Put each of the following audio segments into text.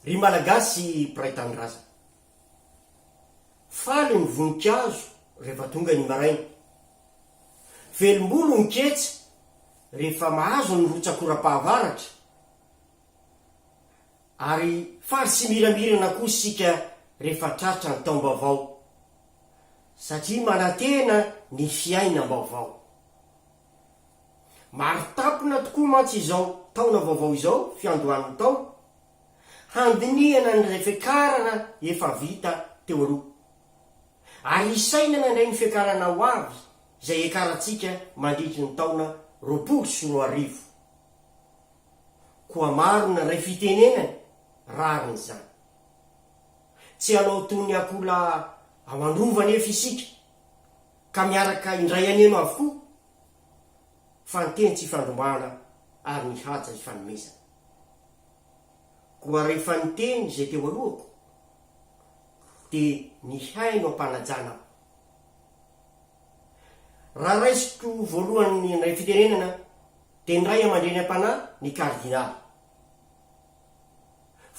Ry Malagasy mpiray tanindrazana. Faly ny voninkazo rehefa tonga ny maraina. Velombolo ny ketsa rehefa mahazo ny rotsakoram-pahavaratra. Ary faly sy miramirana koa isika rehefa tratra ny taom-baovao. Satria manantena ny fiainam-baovao. Maritampona tokoa mantsy izao taona vaovao izao, fiandohan'ny taona, handinihana ny fiakarana efa vita teo aloha. Ary hisainana indray ny fiakarana ho avy izay hiakarantsika mandritry ny taona roapolo sy roa arivo. Koa maro ny re fitenenany rariny izany. Tsy hanao toy ny akoholahy ao an-drova anefa isika. Ka miaraka indray aneno avokoa fa ny teny tsy ifandrombahana ary ny haja ifanomezana. Koa rehefa niteny izay teo alohako dia nihaino am-panajana aho. Raha raisiko voalohany indray fitenenana dia ny Ray aman-dreny am-panahy ny Kardinaly.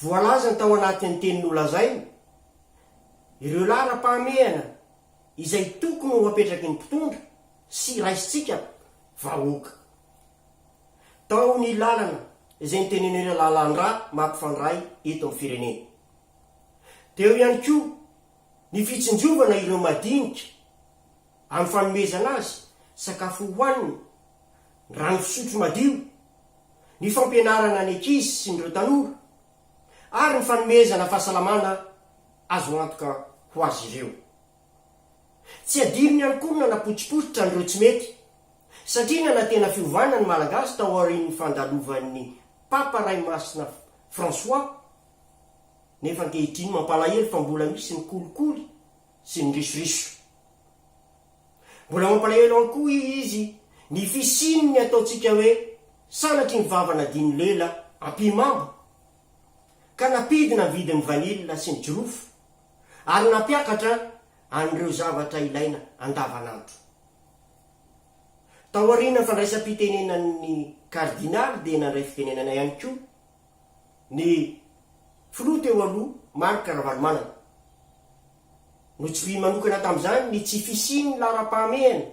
Voalazany tao anatin'ny teny nolazainy ireo laharam-pahamehana izay tokony ho apetraky ny mpitondra sy raisintsika vahoaka. Tao ny lalana izay noteneneo ilay lalandrà mampifandray eto amin'ny firenena. Teo ihany koa ny fitsinjovana ireo madinika amin'ny fanomezana azy sakafo hohanina, rano fisotro madio, ny fampianarana ny ankizy sy ny ireo tanora. ary ny fanomezana fahasalamana azo antoka ho azy ireo. Tsy adino ihany koa ny nanapotsipotsitra an'ireo tsy mety, satria nanantena fiovana ny Malagasy tao aorian'ny fandalovan'ny Papa Ray Masina François, nefa ankehitriny mampalahelo fa mbola misy ny kolikoly sy ny risoriso. Mbola mampalahelo an koa i izy ny fisian ny ataontsika hoe sanatry ny vava nadino lela ampihimamba ka nampidina ny vidin ny vanille sy ny jirofo ary nampiakatra an ireo zavatra ilaina andavanandro. Taoriana fandraisam-pitenenan ny kardinaly dia nandray fitenenana ihany koa ny filoha teo aloha Marc Ravalomanana. Notsohiany manokana tamin'izany ny tsy fisian'ny laharam-pahamehana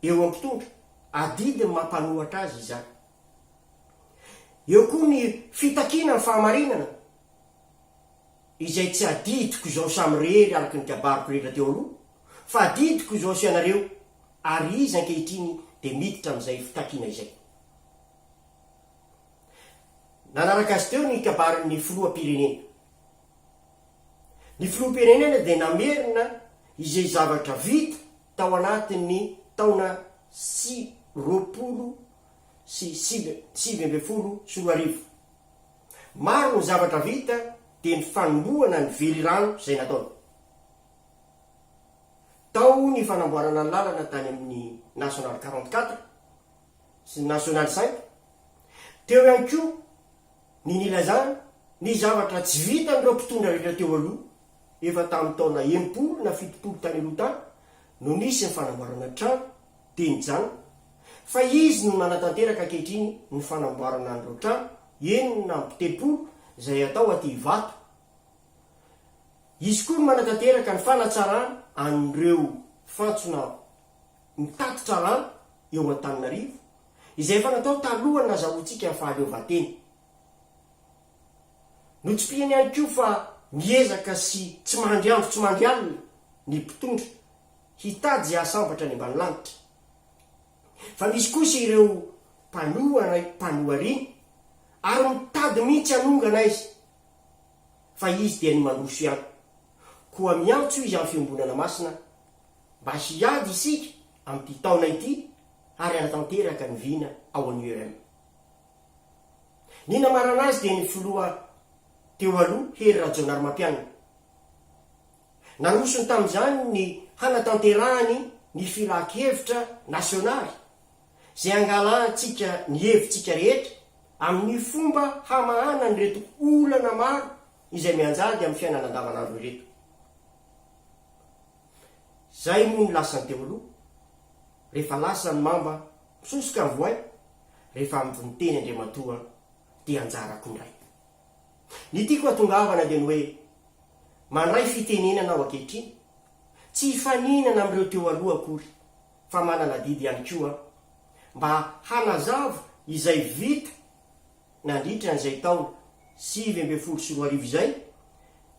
eo amin'ny mpitondra, adidy ny maha mpanohatra azy izany. Eo koa ny fitakiana ny fahamarinana, izay tsy adidiko izao samirery araka ny kabariko rehetra teo aloha, fa adidiko izao sy ianareo, ary izy ankehitriny dia miditra amin'izay fitakiana izay. Nanaraka azy teo ny kabarin'ny filoham-pirenena. Ny Filoham-pirenena dia namerina izay zavatra vita tao anatin'ny taona sy roapolo sy sivy ambin'ny folo sy roa arivo. Maro ny zavatra vita dia ny fanombohana ny velirano izay nataony tao, ny fanamboarana ny lalana tany amin'ny Nationale quarante quatre sy ny Nationale cinq, teo ihany koa ny nilazany ny zavatra tsy vitan'ireo mpitondra rehetra teo aloha, efa tamin'ny taona enimpolo na fitopolo tany aloha tany no nisy ny fanamboarana trano dia nijanona, fa izy no nanatanteraka ankehitriny ny fanamboarana an'ireo trano enina amby telopolo izay atao aty Ivato, izy koa no manatanteraka ny fanatsarana an'ireo fantsona mitatitra rano eo Antananarivo, izay efa natao talohan'ny nazahoantsika ny fahaleovantena. Notsipihany ihany koa fa miezaka sy tsy mandry andro tsy mandry alina ny mpitondra hitady izay hahasambatra any ambany lanitra. Fa misy kosa ireo mpanohana mpanohariana ary mitady mihitsy hanongana aiza fa izy dia ny mandroso ihany. Koa miantso izy amin'ny fiombonana masina mba hiady isika amin'ity taona ity ary any tanteraka ny vina ao an URM. Ny namarana azy dia ny filoha teo aloha Hery Rajaonarimampianina. Narosony tamin'izany ny hanatanterahany ny filankevitra nasionaly izay hangalahantsika ny hevitsika rehetra amin'ny fomba hamahana an'ireto olana maro izay mianjady amin'ny fiainana andavanandro ireto. Izay moa no lasany teo aloha. Rehefa lasa ny mamba misosoka ny voay, rehefa avy niteny Andriamatoa dia anjarako indray. Ny tiako hatongavana dia ny hoe, mandray fitenenana aho ankehitriny, tsy hifaninana amin'ireo teo aloha akory, fa manana adidy ihany koa aho, mba hanazava izay vita nandritra an'izay taona sivy ambin'ny folo sy roa arivo izay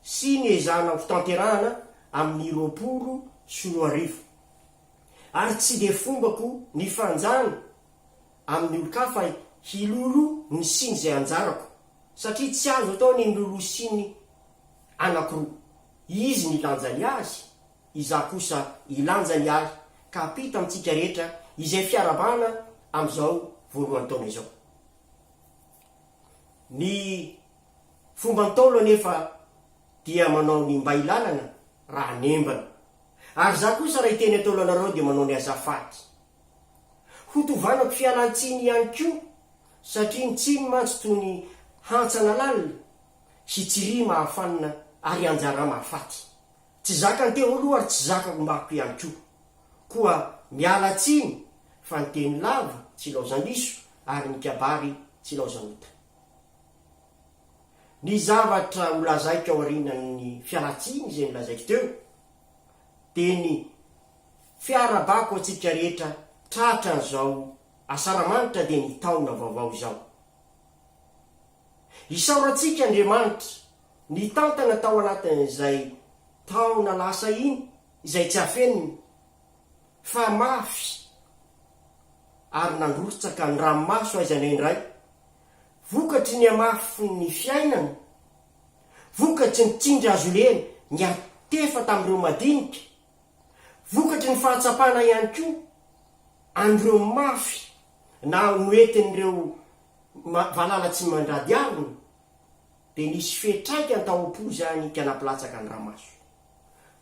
sy ny ezahana hotanterahana amin'ny roapolo sy roa arivo. Ary tsy dia fombako ny fanjany amin'ny olon-kafa hiloloha ny siny izay anjarako, satria tsy azo atao ny niloloha siny anankiroa. Izy nilanja ny azy, izaho kosa hilanja ny ahy, ka hampita amintsika rehetra izay fiarahabana amin'izao voalohan'ny taona izao. Ny fomba Ntaolo anefa dia manao ny mba hilalana raha hanembana. Ary izaho kosa raha hiteny ataolo anareo dia manao ny azafady. Ho tovanako fialan-tsiny ihany koa satria ny tsiny mantsy toy ny hantsana lalina sy tsiry mahafanina ary anjara mahafaty. Tsy zakany teo aloha ary tsy zakako ombako ihany koa. Koa miala tsiny fa ny teny lava tsy ilaozan-diso ary ny kabary tsy ilaozan'ota. Ny zavatra holazaiko aorianan'ny fialantsiny izay nolazaiko teo dia ny fiarabako antsika rehetra tratra an'izao Asaramanitra dia ny taona vaovao izao. Isaorantsika Andriamanitra nitantana tao anatin'izay taona lasa iny izay tsy afenina fa mafy ary nandrotsaka ny ranomaso aiza na indray Vokatry ny hamafy ny fiainana, vokatry ny tsindry azo ireny niantefa tamin'ireo madinika, vokatry ny fahatsapana ihany koa an'ireo mafy na noentin'ireo valala tsy mandrady harona, dia nisy fiantraikany tao am-po izany ka nampilatsaka ny ramaso.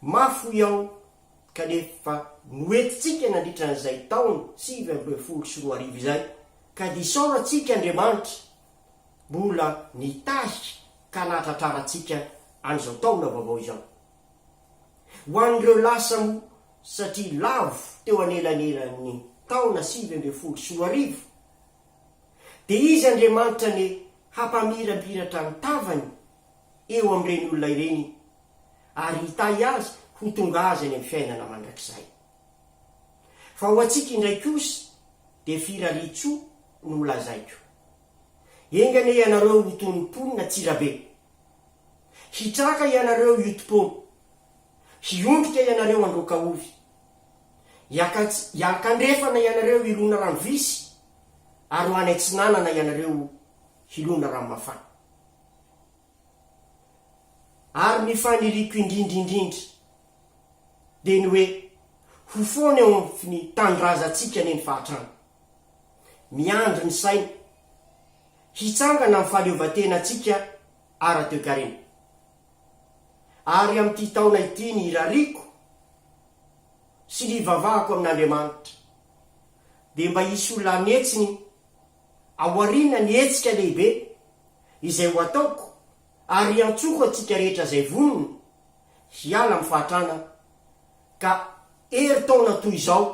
Mafy hoy aho kanefa noentintsika nandritra an'izay taona sivy ambin'ny folo sy roa arivo izay. Ka dia isaoro antsika Andriamanitra mbola nitarika ka nahatratrara antsika an'izao taona vaovao izao. Ho an'ireo lasa moa satria lavo teo anelanelan'ny taona sivy ambin'ny folo sy roa arivo dia izy Andriamanitra anie hampamirapiratra ny tavany eo amin'ireny olona ireny ary hitahy azy ho tonga azy any amin'ny fiainana mandrakizay. Fa ho antsika indray kosa dia firarian-tsoa no ho lazaiko. Enga anie ianareo ho toy ny mponina tsy rabe. Hitraka ianareo hioti-poana. Hiondrika ianareo handroaka ovy. Hiankandrefana ianareo hilona rano visy, ary ho any atsinanana ianareo hilona rano mafana. Ary ny faniriako indrindra indrindra dia ny hoe ho foana eo amin ny tanindrazantsika anie ny fahatrana. Miandry ny saina hitsangana amin'ny fahaleovantenantsika ara-toekarena. Ary amin'ity taona ity ny irariako sy ny ivavahako amin'Andriamanitra dia mba hisy olona hanetsiny Ao aoriana ny hetsika lehibe izay ho ataoko ary iantsoko antsika rehetra izay vonona hiala amin'ny fahatrana ka herintaona toy izao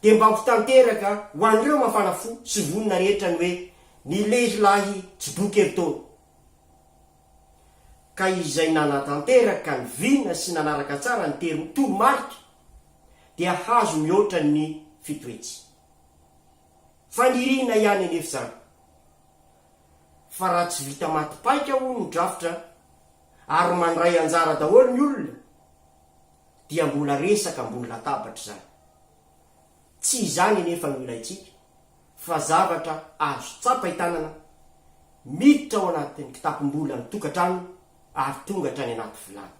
dia mba ho tanteraka ho an'ireo mafana fo sy vonona rehetra ny hoe ny lehilahy tsy boky herintaona ka izay nanatanteraka ny vina sy nanaraka tsara ny toromarika dia hahazo mihoatra ny fito hetsy. Faniriana ihany anefa izany fa raha tsy vita maty paika hono ny drafitra ary mandray anjara daholo ny olona dia mbola resaka ambony latabatra izany. Tsy izany anefa no ilaintsika fa zavatra azo tsapain-tanana miditra ao anatin'ny kitapom-bolan'ny tokantrano ary tonga hatrany anaty vilany.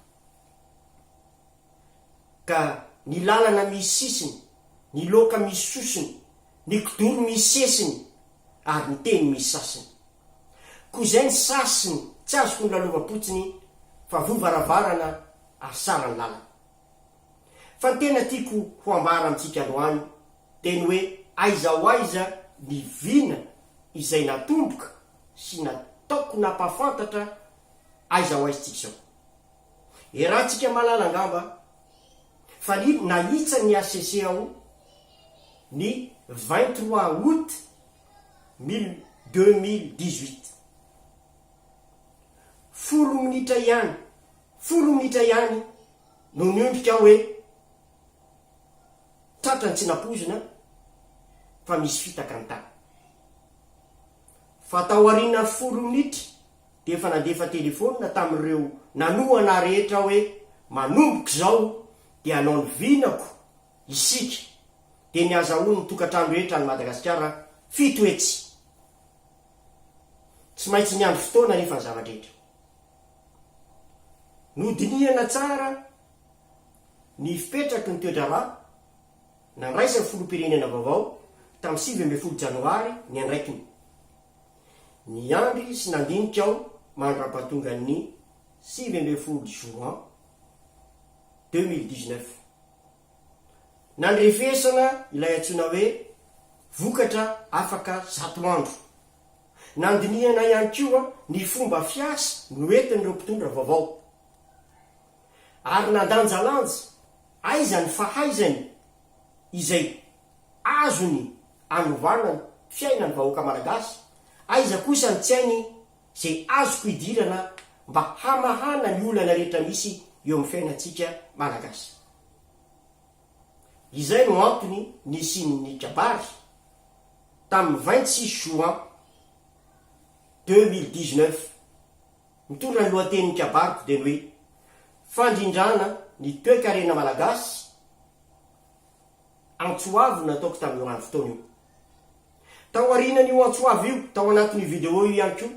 Ka ny lalana misy sisiny, ny loka misy sosony, ny kidoro misy sesiny, ary ny teny misy sasiny. Koa izay ny sasiny tsy azoko ny lalovam-potsiny fa voa varavarana ary sara ny lalana. Fa ny tena tiako ho ambara amintsika androany dia ny hoe aiza ho aiza ny vina izay natomboka sy nataoko nampahafantatra aiza ho aiza tsika izao. Iarahantsika malala angamba fa ny nahitsa ny hcc ao ny vingt trois aout mille deux mille dix huit. Folo minitra ihany, folo minitra ihany no niondrika aho hoe tratran'ny tsy nampoizina fa misy fitaka ny tany. Fa taorian'ny folo minitra, dia efa nandefa telefonina tamin'ireo nanohana ahy rehetra aho hoe manomboka izao dia hanao ny vinako isika dia ny hazahoan'ny tokantrano rehetra any Madagasikara fito hetsy. Tsy maintsy niandry fotoana anefa ny zava-drehetra. Nodinihana tsara ny fipetraky ny toe-draharaha nandraisan'ny filoham-pirenena vaovao tamin'ny sivy ambin'ny folo janoary ny andraikiny. Niandry sy nandinika aho mandra-pahatongan'ny sivy ambin'ny folo juin deux mille dix-neuf. Nandrefesana ilay antsoina hoe vokatra afaka zato andro. Nandinihana ihany koa ny fomba fiasa noentin'ireo mpitondra vaovao. Ary nandanjalanja aiza ny fahaizany izay azony anovana ny fiainan'ny vahoaka Malagasy, aiza kosa ny tsy hainy izay azoko hidirana mba hamahana ny olana rehetra misy eo amin'ny fiainantsika Malagasy. Izay no antony nisian'ny kabary tamin'ny vingt six juin deux mille dix neuf. Mitondra ny lohatenin'ny kabariko dia ny hoe Fandrindrana ny toekarena malagasy antso avo no nataoko tamin'io andro taona io. Tao aorianan'io antso avo io, tao anatin'io video io ihany koa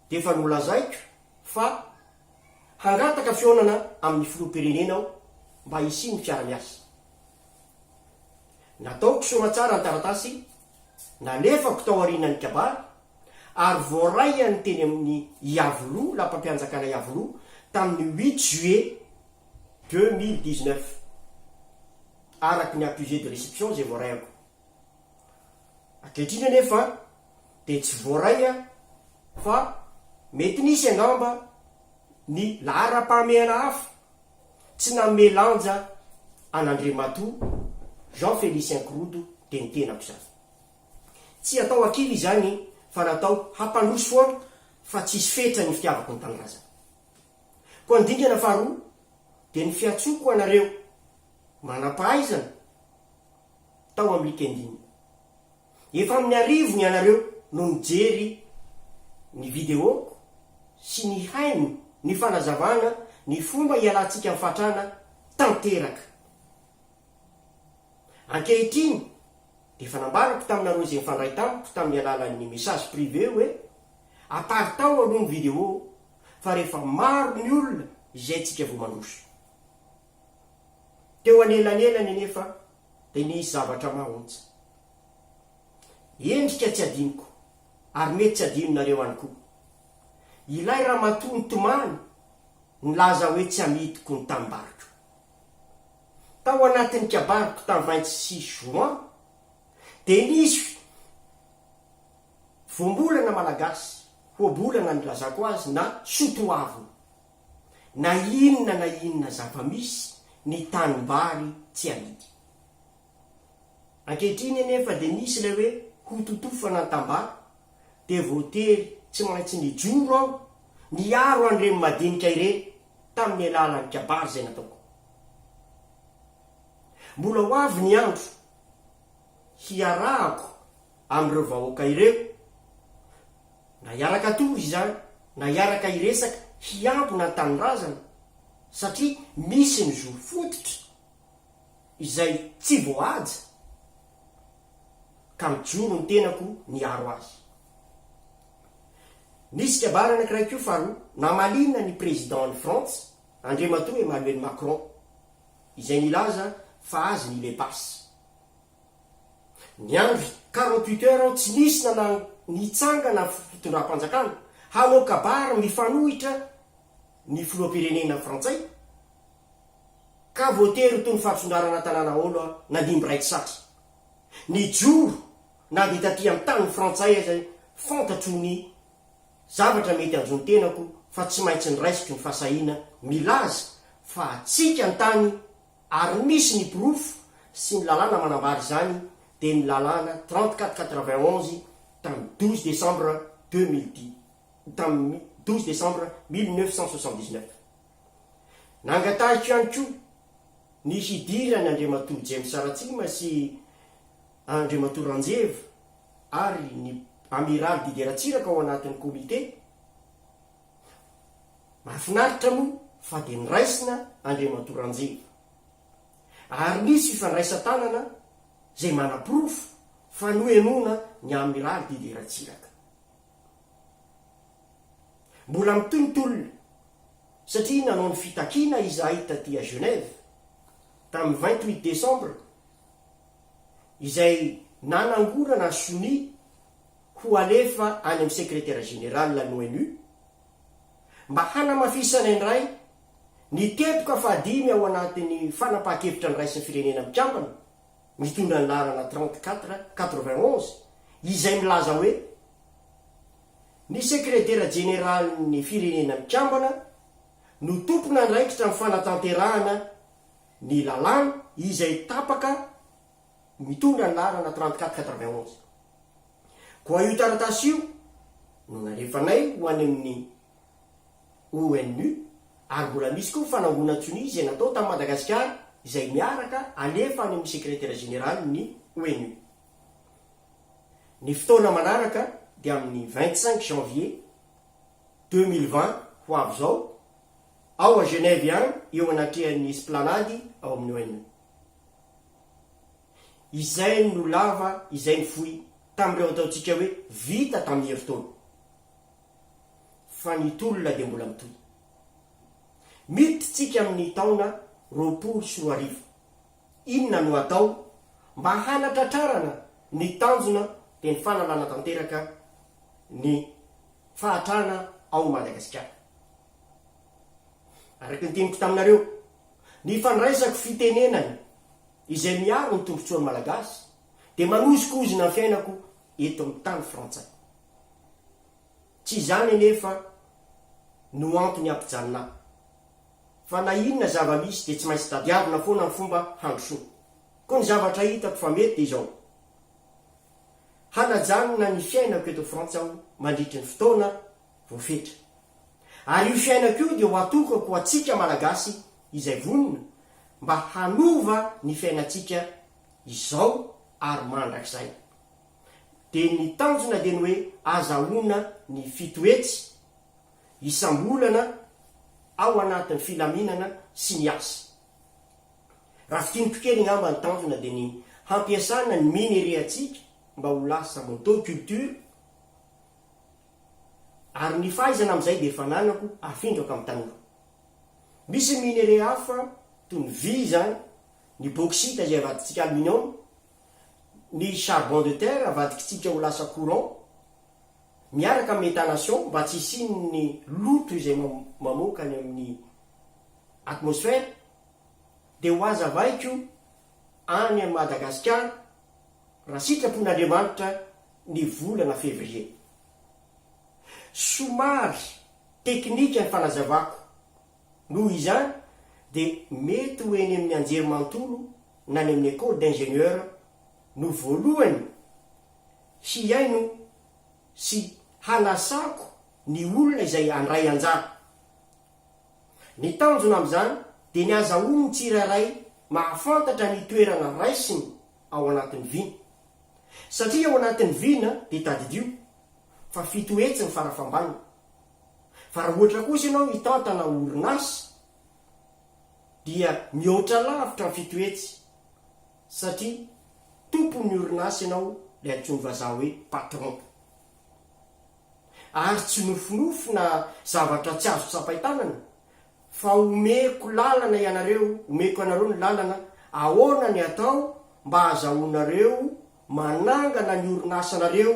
dia efa nolazaiko fa hangataka fihaonana amin'ny filoham-pirenena aho mba hisian'ny fiara-miasa. Nataoko soamantsara ny taratasy nalefako tao aorianan'ny kabary ary voaraiany teny amin'ny Iavoloha, Lapam-pianjakana Iavoloha, tamin'ny huit juillet deux mille dix-neuf, araka ny accusé de réception izay voaraiko. Ankehitriny anefa dia tsy voaray fa mety nisy angamba ny laharam-pahamehana hafa tsy nanome lanja an'Andriamatoa Jean Félicien Kirodo, teny tenako izany. Tsy atao hakilo izany fa natao hampandroso foana fa tsy hisy fetra ny fitiavako ny tanindrazana. Koa ny dingana faharoa dia ny fiantsoako anareo manam-pahaizana tao amin'ny Linkedin. Efa amin'ny arivo ny anareo no nijery ny videoko sy nihaino ny fanazavana ny fomba hialantsika amin'ny fahantrana tanteraka. Ankehitriny, dia efa nambarako taminareo izay nifandray tamiko tamin'ny alalan'ny message privé hoe, aparitao aloha ny vidéo fa rehefa maro ny olona izay tsika vao mandroso. Teo anelanelany anefa dia nisy zavatra mahaontsa. Endrika tsy adinoko ary mety tsy adinonareo any koa. Ilay ramatoa nitomany nilaza hoe tsy amidiko ny tanimbaroko. Tao anatin'ny kabariko tamin'ny vingt six juin dia nisy voambolana malagasy, hoabolana nilazako azy na soatoavina. Na inona na inona zava-misy, ny tanimbary tsy amidy. Ankehitriny anefa dia nisy ilay hoe hototofana ny tambara dia voatery tsy maintsy nijoro aho niaro an'ireny madinika ireny tamin'ny alalan'ny kabary izay nataoko. Mbola ho avy ny andro hiarahako amin'ireo vahoaka ireo, na hiaraka tory izany, na hiaraka hiresaka hiambina ny tanindrazana, satria misy ny zo fototra izay tsy voahaja, ka mijoro ny tenako niaro azy. Nisy kabary anankiray koa faharoa, namaliana ny Président an'i Frantsa, Andriamatoa Emmanuel Macron izay nilaza fa azy ny le pass. Niandry quarante huit heures aho tsy nisy na na nitsangana fitondram-panjakana hanao kabary mifanohitra ny filoham-pirenena frantsay ka voatery tony fahatsondarana tanàna aolo aho nandimby iray tsy satry nijoro na dia taty an-tany frantsay aza fantatro ny Zavatra mety hanjo ny tenako fa tsy maintsy niraisiko ny fahasahiana milaza fa hatsiaka ny tany ary misy ny porofo sy ny lalàna manambara izany dia ny lalàna trente quatre quatre-vingt-onze tamin'ny douze décembre deux mille dix tamin'ny douze décembre mille neuf cent soixante-dix-neuf. Nangatahiko ihany koa ny hidiran'Andriamatoa James Ratsima sy Andriamatoa Ranjeva ary ny Amiraly Didier Ratsiraka ao anatin'ny Comité. Mahafinaritra moa fa dia niraisina Andriamatoa Ranjeva. Ary nisy fifandraisan-tanana izay manaporofo fa nohenoina ny Amiraly Didier Ratsiraka. Mbola mitohy ny tolona satria nanao ny fitakiana izahay taty à Genève tamin'ny vingt huit décembre, izay nanangorana ny sonia ho alefa any amin'ny Sekretera Jeneraly ny ONU mba hanamafisana indray ny teboka fahadimy ao anatin'ny fanapahan-kevitra ny raisin'ny Firenena Mikambana mitondra ny laharana 34 91 izay milaza hoe Ny Sekretera Jeneralin'ny Firenena Mikambana no tompon'andraikitra amin'ny fanatanterahana ny lalàna izay tapaka mitondra ny laharana trente quatre quatre-vingt onze. Koa io taratasy io no nalefanay ho any amin'ny ONU ary mbola misy koa ny fanangonan-tsonia izay natao tamin'i Madagasikara izay miaraka alefa any amin'ny Sekretera Jeneralin'ny ONU. Ny fotoana manaraka dia amin'ny vingt-cinq janvier deux mille vingt ho avy izao ao à Genève ihany eo anatrehan'ny esplanade ao amin'ny ONU. Izay no lava izay ny fohy tamin'ireo ataontsika hoe vita tamin'ny herintaona. Fa ny tolona dia mbola mitohy. Miditra tsika amin'ny taona roapolo sy roa arivo. Inona no atao mba hanatratrarana ny tanjona dia ny fanalana tanteraka ny fahatrana ao Madagasikara. Araka ny teniko taminareo, ny fandraisako fitenenana izay miaro ny tombontsoan'ny Malagasy dia manozokozona ny fiainako eto amin'ny tany frantsay. Tsy izany anefa no antony hampijanona ahy, fa na inona zava-misy dia tsy maintsy tadiavina foana ny fomba handrosoako. Koa ny zavatra hitako fa mety dia izao, hanajanona ny fiainako eto Frantsa aho mandritry ny fotoana voafetra. Ary io fiainako io dia ho atokako ho antsika Malagasy izay vonona mba hanova ny fiainantsika izao ary mandrakizay. Dia ny tanjona dia ny hoe azahoana ny fito hetsy isam-bolana ao anatin'ny filaminana sy ny asa. Raha fintiniko kely angamba ny tanjona dia ny hampiasana ny minerais-ntsika mba ho lasa moto culture, Ary ny fahaizana amin'izay dia efa ananako, afindrako amin'ny tanora. Misy ny minerais hafa toy ny vy izany, ny bauxite izay avadintsika aluminium, ny charbon de terre avadikintsika ho lasa courant, miaraka amin'ny methanation mba tsy hisian'ny loto izay mamoaka any amin'ny atmosphère, dia ho aza avaiko any Madagasikara, raha sitrapon'Andriamanitra ny volana Février. Somary teknika ny fanazavako, noho izany dia mety ho eny amin'ny anjerimanontolo na any amin'ny Ecole d'ingénieur no voalohany hihaino sy hanasako ny olona izay handray anjara. Ny tanjona amin'izany dia ny azahoan'ny tsirairay mahafantatra ny toerana raisiny ao anatin'ny vina. Satria ao anatin'ny vina dia tadidio fa fito hetsy ny farafambaniny. Fa raha ohatra kosa ianao mitantana orinasa dia mihoatra lavitra ny fito hetsy satria tompon'ny orinasa ianao, ilay antsoin'ny vazaha hoe patron. Ary tsy nofinofy na zavatra tsy azo tsapain-tanana Fa omeko lalana ianareo, omeko anareo ny lalana, ahoana ny atao mba azahoanareo manangana ny orinasanareo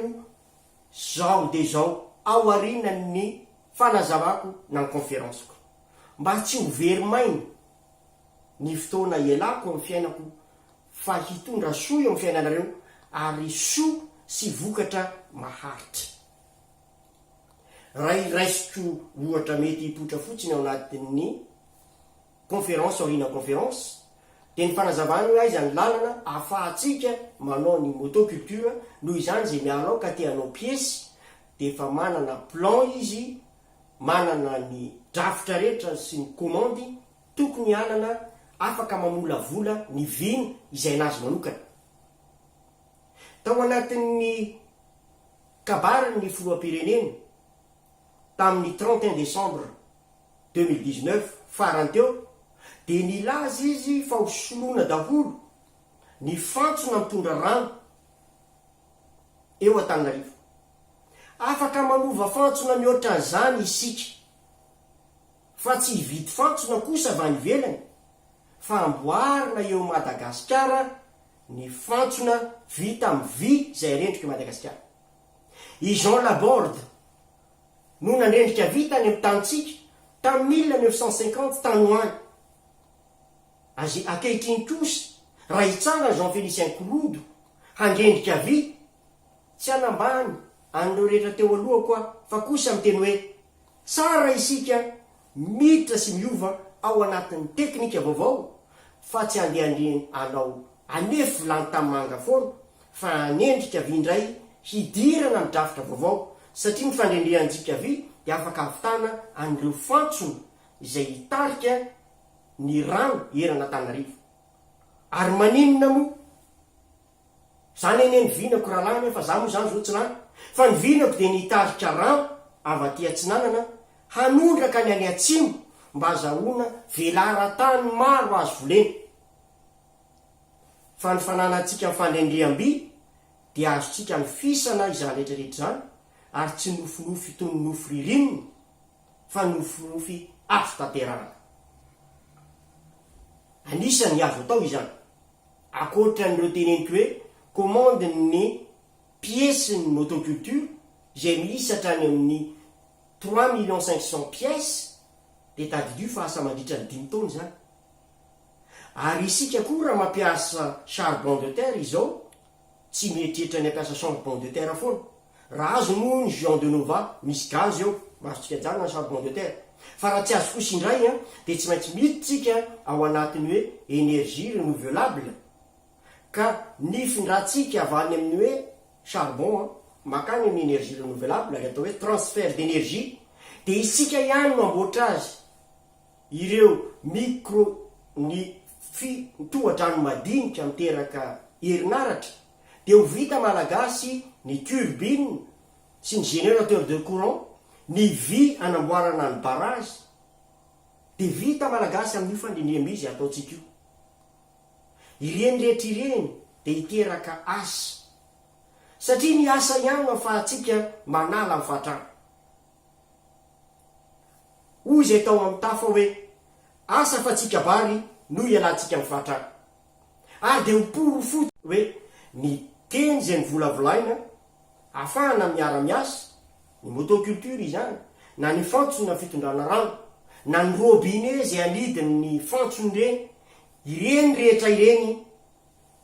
zao dia zao aorianan'ny fanazavako na ny conférence-ko. Mba tsy ho very maina ny fotoana ialako amin'ny fiainako fa hitondra soa eo amin'ny fiainanareo ary soa sy vokatra maharitra. Raha raisiko ohatra mety hipoitra fotsiny ao anatin'ny conférence aoriana conférence dia ny fanazavana hoe aiza ny lalana ahafahantsika manao ny motoculture noho izany izay miala ao ka te hanao piesy dia efa manana plan izy manana ny drafitra rehetra sy ny komandy tokony hanana afaka mamolavola ny vina izay anazy manokana tao anatin'ny Kabarin' ny filoham-pirenena tamin'ny trente et un décembre deux mille dix neuf farany teo dia nilaza izy fa ho soloina daholo ny fantsona mitondra rano eo Antananarivo. Afaka manova fantsona mihoatra an'izany isika fa tsy hividy fantsona kosa avy any ivelany fa amboarina eo Madagasikara ny fantsona vita amin'ny vy izay rendrik'i Madagasikara. I Jean Laborde no nandrendrika vy tany amin'ny tanintsika tamin'ny mille neuf cent cinquante tany ho any. Azy ankehitriny kosa raha hitsangan'i Jean Félicien Korodo handrendrika vy, tsy hanambany an'ireo rehetra teo alohako aho fa kosa miteny hoe, tsara isika miditra sy miova ao anatin'ny teknika vaovao fa tsy andehandehan anao anefy vilany tanimanga foana fa anendrika vy indray hidirana ny drafitra vaovao satria ny fandrendrehantsika vy dia afaka havitana an'ireo fantsona izay hitarika ny rano eran'Antanarivo ary maninona moa Zany anie ny vinako rahalahy nefa za moa zany zao tsy lany fa ny vinako dia ny hitarika rano avy aty atsinanana hanondraka ny any atsimo mba azahoana velaran-tany maro azo volena fa ny fananantsika ny fandrendreham-by dia azontsika nofisana izany retraretra izany ary tsy nofinofy toy ny nofy ririnina fa nofinofy azo tanterahana. Anisan'ny azo atao izany. Ankoatran'ireo teneniko hoe komandin'ny piesy ny motoculture izay miisa hatrany amin'ny trois millions cinq cents pièces dia tadidio fa asa mandritra ny dimy taona izany. Ary isika koa raha mampiasa charbon de terre izao tsy mieritreritra ny hampiasa charbon de terre foana Raha azo moa ny Juan de Nova, misy gaz eo, mahazotsika ajanona ny charbon de terre. Fa raha tsy azo kosa indray dia tsy maintsy miditra tsika ao anatin'ny hoe energie renouvelable ka ny findrantsika avy any amin'ny hoe charbon makany amin'ny energie renouvelable, ary atao hoe transfert d'energie, dia isika ihany no amboatra azy, ireo micro ny fi toha-drano madinika miteraka herinaratra. dia ho vita malagasy ny turbine sy ny générateur de courant, ny vy anamboarana ny barrage dia vita malagasy amin'io fandrindriam-by izay ataontsika io. Ireny rehetra ireny dia hiteraka asa satria ny asa ihany no ahafahantsika manala ny fahatrana. Hoy izay tao amin'ny tafa hoe, asa fa tsy kabary no hialantsika amin'ny fahatrana. Ary dia ho porofo hoe ny teny izay novolavolaina hahafahana miara-miasa, ny motoculture izany, na ny fantsona fitondrana rano, na ny robinet izay anidin' ny fantsony ireny, ireny rehetra ireny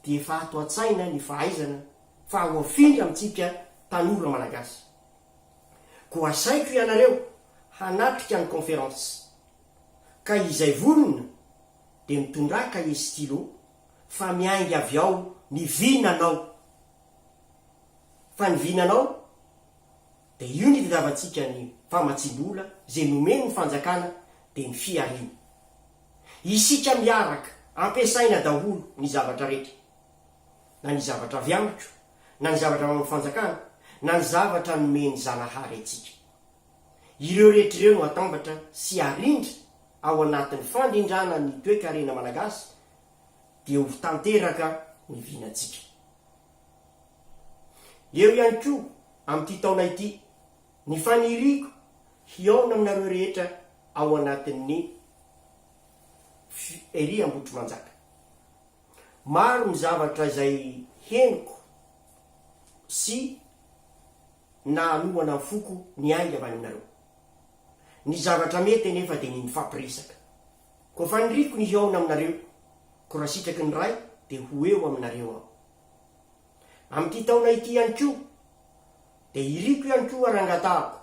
dia efa ato an-tsaina ny fahaizana fa ho afindra amintsika tanora Malagasy. Koa asaiko ianareo hanatrika ny conférence. Ka izay vonona dia mitondrà kahie sy stylo fa miainga avy ao ny vinanao. Fa ny vinanao dia io ny itadiavantsika ny famatsiam-bola izay nomen'ny fanjakana dia ny fihariana. Isika miaraka ampiasaina daholo ny zavatra rehetra. Na ny zavatra avy amiko, na ny zavatra avy amin'ny fanjakana, na ny zavatra nomen'i Zanahary antsika. Ireo rehetra ireo no atambatra sy arindra ao anatin'ny fandrindrana ny toekarena malagasy dia ho tanteraka ny vinantsika. Eo ihany koa amin'ity taona ity ny faniriako hihaona aminareo rehetra ao anatin'ny Fiery Ambohitrimanjaka. Maro ny zavatra izay henoko sy na hanohana ny foko ny ahy ry aminareo. Ny zavatra mety anefa dia ny mifampiresaka. Koa faniriko ny hihaona aminareo, koa raha sitraky ny Ray dia ho eo aminareo aho. Amin'ity taona ity ihany koa dia iriko ihany koa harangatahako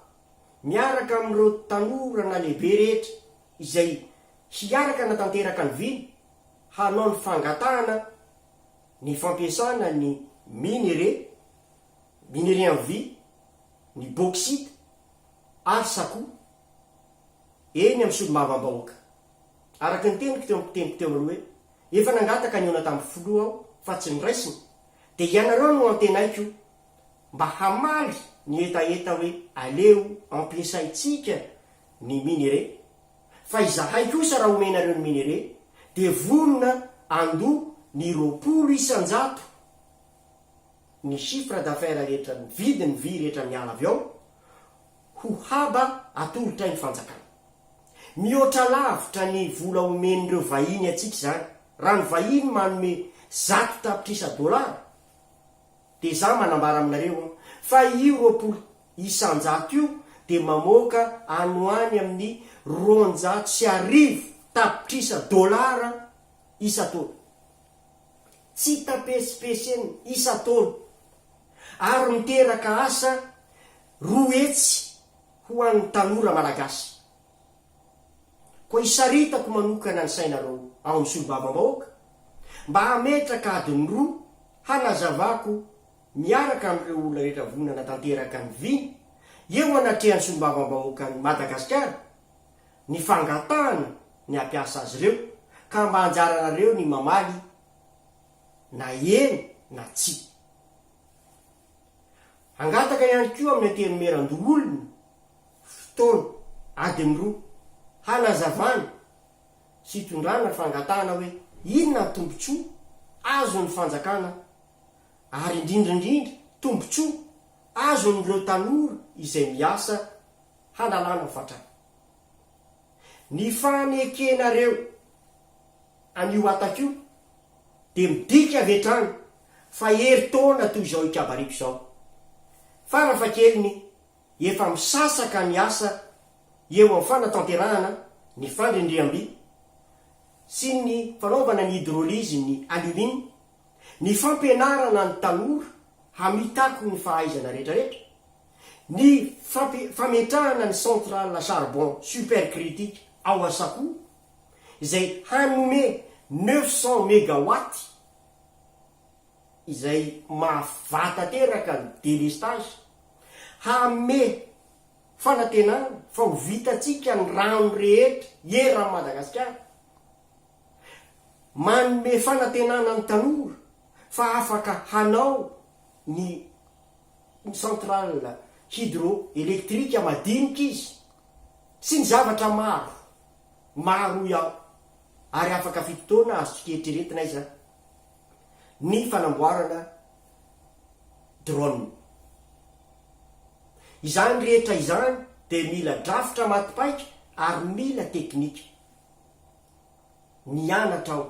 miaraka amin'ireo tanora nalehibe rehetra izay hiaraka hanatanteraka ny vina hanao ny fangatahana ny fampiasana ny minerais, Minerais en vie, ny bauxite ary sakou eny amin'ny solombavambahoaka. Araka ny teniko teo am-piteniko teo aloha hoe efa nangataka ny ona tamin'ny filoha aho fa tsy noraisiny dia ianareo no antenaiko mba hamaly ny hetaheta hoe aleo ampiasaintsika ny minerais fa izahay kosa raha omenareo ny minerais dia vonona andoa ny roapolo isan-jato ny chiffre d'affaires rehetra ny vidiny vy rehetra miala avy ao ho haba atolotra ny fanjakana. Mihoatra lavitra ny vola omen'ireo vahiny antsika izany, raha ny vahiny manome zato tapitrisa dollars dia izaho manambara aminareo an, fa io roapolo isanjato io dia mamoaka any ho any amin'ny roanjato sy arivo tapitrisa dollars isan-taona. tsy hita petsipeseny isan-taona ary miteraka asa roa hetsy ho an'ny tanora malagasy. Koa isaritako manokana ny sainareo ao amin'ny solombavambahoaka mba hametraka adiny roa hanazavako miaraka amin'ireo olona rehetra voa nanatanteraka ny vina eo anatrehan'ny solombavambahoakan'i Madagasikara ny fangatahany ny hampiasa azy ireo ka mba anjaranareo ny mamaly na eny na tsia. Hangataka ihany koa amin'ny Antenimierandoholona fotoana adiny roa hanazavana sy hitondrana fangatahana hoe inona ny tombontsoa azon'ny fanjakana ary indrindra indrindra tombontsoa azon'ireo tanora izay miasa hanalana fatratra. Ny fanekenareo an'io hatako io dia midika avy hatrany fa herintaona toy izao ikabariko izao. Fara fahakeliny efa misasaka ny asa eo amin'ny fanatanterahana ny fandrindriamby sy ny fanaovana ny hydrolyse ny alumine, ny fampianarana ny tanora hamitako ny fahaizana rehetrarehetra, Ny fametrahana ny centrale à charbon supercritique ao Asakoa, izay hanome neuf cents megawatts, izay mahavà tanteraka ny délestage, hanome fanantenana fa ho vitantsika ny rano rehetra eran'i Madagasikara, manome fanantenana ny tanora fa afaka hanao ny centrale hydroélectrique madinika izy sy ny zavatra maro, maro hoy aho, ary afaka fito taona azontsika eritreretina aiza ny fanamboarana drone. Izany rehetra izany dia mila drafitra maty paika ary mila teknika. Mianatra aho.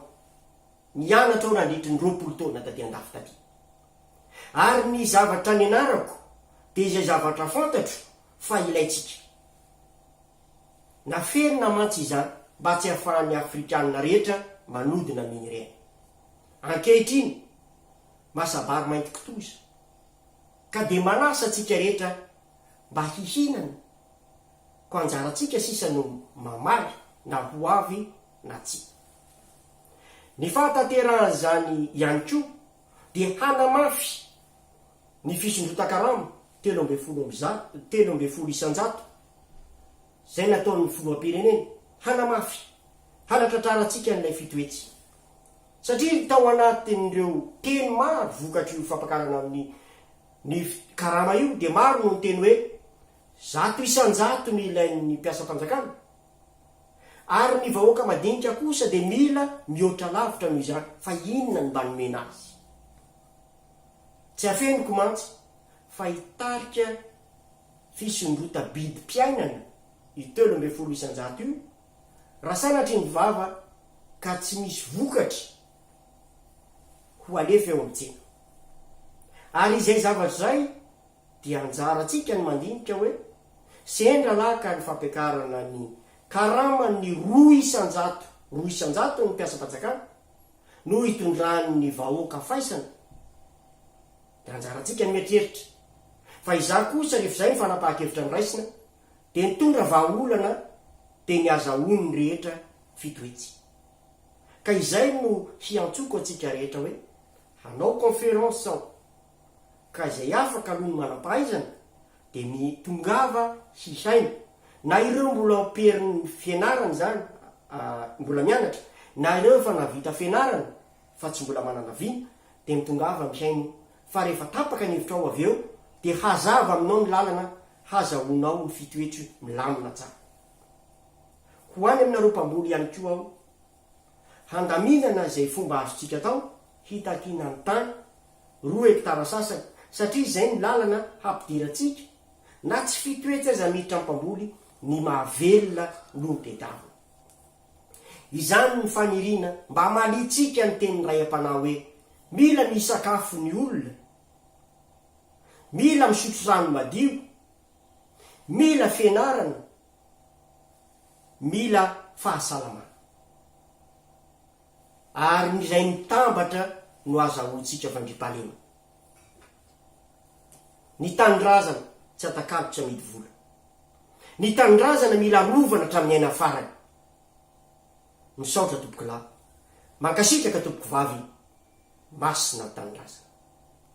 Nianatra aho nandritry ny roapolo taona taty an-dafy taty. Ary ny zavatra nianarako dia izay zavatra fantatro fa ilaintsika. Naferina mantsy izany mba tsy hahafahan'ny Afrikana rehetra manodina mino ireny. Ankehitriny, masa-bary mainty kitoza. Ka dia manasa antsika rehetra mba hihinana, koa anjarantsika sisa no mamaly na ho avy na tsia. Ny fahatanterahan'izany ihany koa dia hanamafy ny fisondrotan-karama telo ambin'ny folo amby zato, telo ambin'ny folo isan-jato, izay nataon'ny Filoham-pirenena, hanamafy, hanatratrarantsika an'ilay fito hetsy. Satria tao anatin'ireo teny maro vokatr'io fampakarana amin'ny ny karama io dia maro no niteny hoe, zato isan-jato no ilain'ny mpiasam-panjakana, Ary ny vahoaka madinika kosa dia mila mihoatra lavitra noho izany, fa inona no mba nomena azy? Tsy afeniko mantsy fa hitarika fisondrota-bidim-piainana io telo ambin'ny folo isan-jato io, raha sanatria ny vava ka tsy misy vokatry ho alefa eo amin'ny tsena. Ary izay zavatra izay, dia anjarantsika ny mandinika hoe, sendra lahy ka ny fampiakarana ny karaman'ny roa isan-jato roa isan-jaton'ny mpiasam-panjakana no hitondran'ny vahoaka faisana dia anjarantsika ny mieritreritra fa izaho kosa rehefa izay ny fanapahan-kevitra noraisina dia nitondra vahaolana teny azahoan'ny rehetra fito hetsy ka izay no hiantsoako antsika rehetra hoe hanao conférence aho Ka izay afaka aloha ny manam-pahaizana dia mi tongava hihaino, na ireo mbola amperin'ny fianarana izany a mbola mianatra, na ireo efa navita fianarana fa tsy mbola manana vina, dia mitongava mihaino fa rehefa tapaka ny hevitrao avy eo dia hazava aminao ny lalana hazahoanao ny fitoetry milamina tsara. Ho any aminareo mpamboly ihany koa aho handaminana izay fomba azontsika atao hitakiana ny tany, roa hektara sasany, satria izay no lalana hampidirantsika, na tsy fito hetsy aza miditra ny mpamboly, ny mahavelona no tedavina. Izany ny faniriana mba hamaliantsika ny tenin'ny rayam-panahy hoe, mila misakafo ny olona, mila misotro rano madio, mila fianarana, mila fahasalamana. Ary ny izay mitambatra no azahoantsika fandriampahalema. Ny tanindrazana tsy atakalo tsy amidy vola. Ny tanindrazana mila arovana hatramin'ny aina farany. Misaotra tompokolahy. Mankasitraka tompoko vavy. Masina ny tanindrazana.